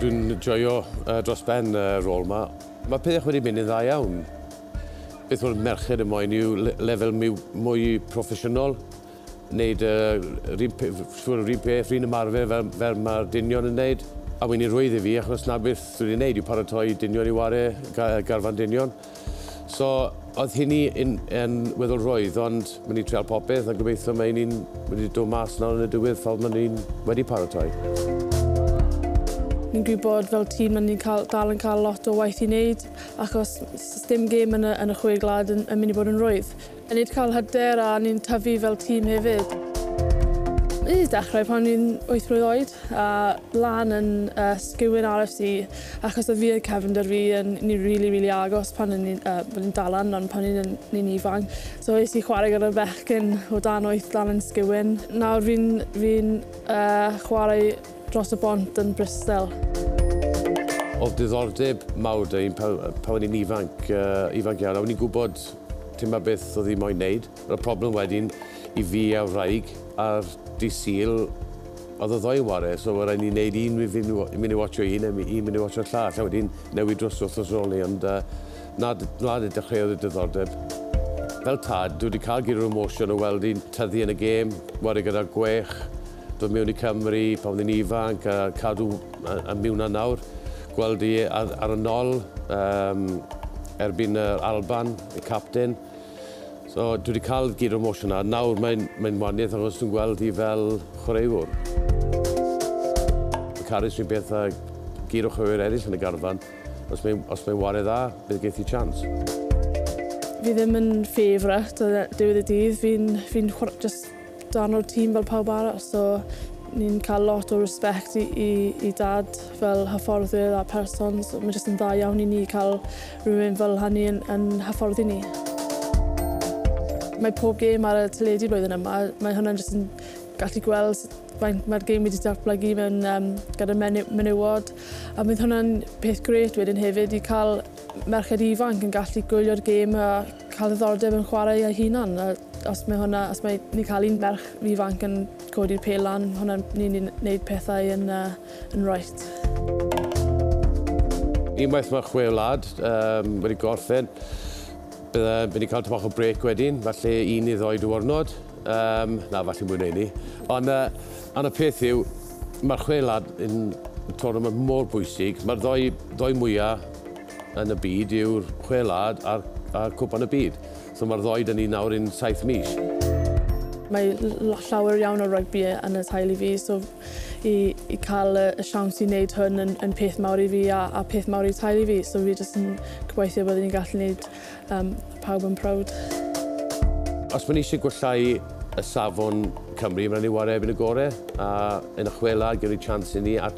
Dwi'n joio uh, dros ben y uh, rôl yma. Mae pethau wedi mynd yn dda iawn. Beth o'r merched y moyn yw lefel mwy, mwy proffesiynol, wneud uh, rhywun peth, rhywun ymarfer fel, fel mae'r dynion yn wneud. A wy'n ei rwydd i fi, achos na beth dwi'n ei wneud yw paratoi dynion i ware garfan dynion. So, oedd hynny yn, yn weddol rwydd, ond mynd i treol popeth a gobeithio mae hynny'n mynd i dod mas nawr yn y diwedd fel mae hynny'n wedi paratoi. Ni'n gwybod fel tîm na ni'n cael, dal yn cael lot o waith i wneud achos dim gêm yn y, yn y chwe glad yn, yn mynd i bod yn rwydd. A nid cael hyder a ni'n tyfu fel tîm hefyd. Fi 'di dechrau pan fi'n wyth mlwydd oed a lan yn yy Sgewin RFC achos oedd fi a cefnder fi yn ni rili rili agos pan o'n ni'n yy wel ni'n dal lan ond pan o'n ni'n ni'n ifanc so es i chwarae gyda'r bechgyn o dan wyth lan yn Sgewin. Nawr fi'n fi'n yy chwarae dros y bont yn Bristol. Oedd diddordeb mawr 'da fi pan pan o'n i'n ifanc yy ifanc iawn a o'n i'n gwbod Dyma beth oedd hi moyn wneud. Yr oedd problem wedyn i fi a'r wraig ar Dydd Sul, oedd y ddou yn ware, so oedd rhaid ni wneud un i fynd i mynd i watsio un a un mynd i watsio llall, a wedyn newid dros wythnos ar ol 'ny, ond yy na, na de dechreuodd y diddordeb. Fel tad, dwi wedi cael gyd o'r emosiwn o weld hi'n tyfu yn y gêm, ware gyda'r gwech, dod mewn i Cymru pan oedd hi'n ifanc a cadw Mae mi wnna nawr, gweld i ar y nol um, erbyn yr Alban, y captain. So, dwi wedi cael gyd o'r motion yna. Nawr mae'n mae waniaeth achos dwi'n gweld hi fel chwaraewr. Mae Carys fi'n beth a gyd o chwaraewr eraill yn y garfan. Os mae'n mae wariau dda, bydd geith i chans. Fi ddim yn favourite o ddiwedd y dydd. Fi'n fi just darn o'r tîm fel pawb arall so ni'n cael lot o respect i, i, i dad fel hyfforddwyr a person so mae jyst yn dda iawn i ni cael rhywun fel hynny yn, yn hyfforddi ni. Mae pob gêm ar y teledu blwyddyn yma, mae hwnna'n jyst yn gallu gweld faint mae'r gêm wedi datblygu mewn um, gyda menu, menywod a bydd hwnna'n peth gret wedyn hefyd i cael merched ifanc yn gallu gwylio'r gêm a cael ddiddordeb yn chwarae ei hunan. A os mae hwnna, os mae ni'n cael un merch ifanc yn codi'r pel lan, hwnna'n ni'n ni'n neud pethau yn, uh, yn right. Unwaith mae chwe wlad um, wedi gorffen, bydda wedi cael tymach o brec wedyn, falle un i ddoi diwrnod. Um, na, falle mwyn ei ni. Ond uh, an y peth yw, mae'r chwe wlad yn y tournament mor bwysig. Mae'r ddoi, ddoi mwyaf yn y byd yw'r Chwe Wlad a'r, a'r Cwpan y Byd. So mae'r ddoi dyn ni nawr yn saith mis. Mae llawer iawn o rygbi yn y teulu fi, so i, i cael y, y siawns i wneud hwn yn, yn peth mawr i fi a, a peth mawr i teulu fi, so fi jyst yn gobeithio bod ni'n gallu wneud um, pawb yn proud. Os mae ni eisiau gwellhau y safon Cymru, mae'n ni wario erbyn y gorau, a yn y chwela gyda'r chance i ni, a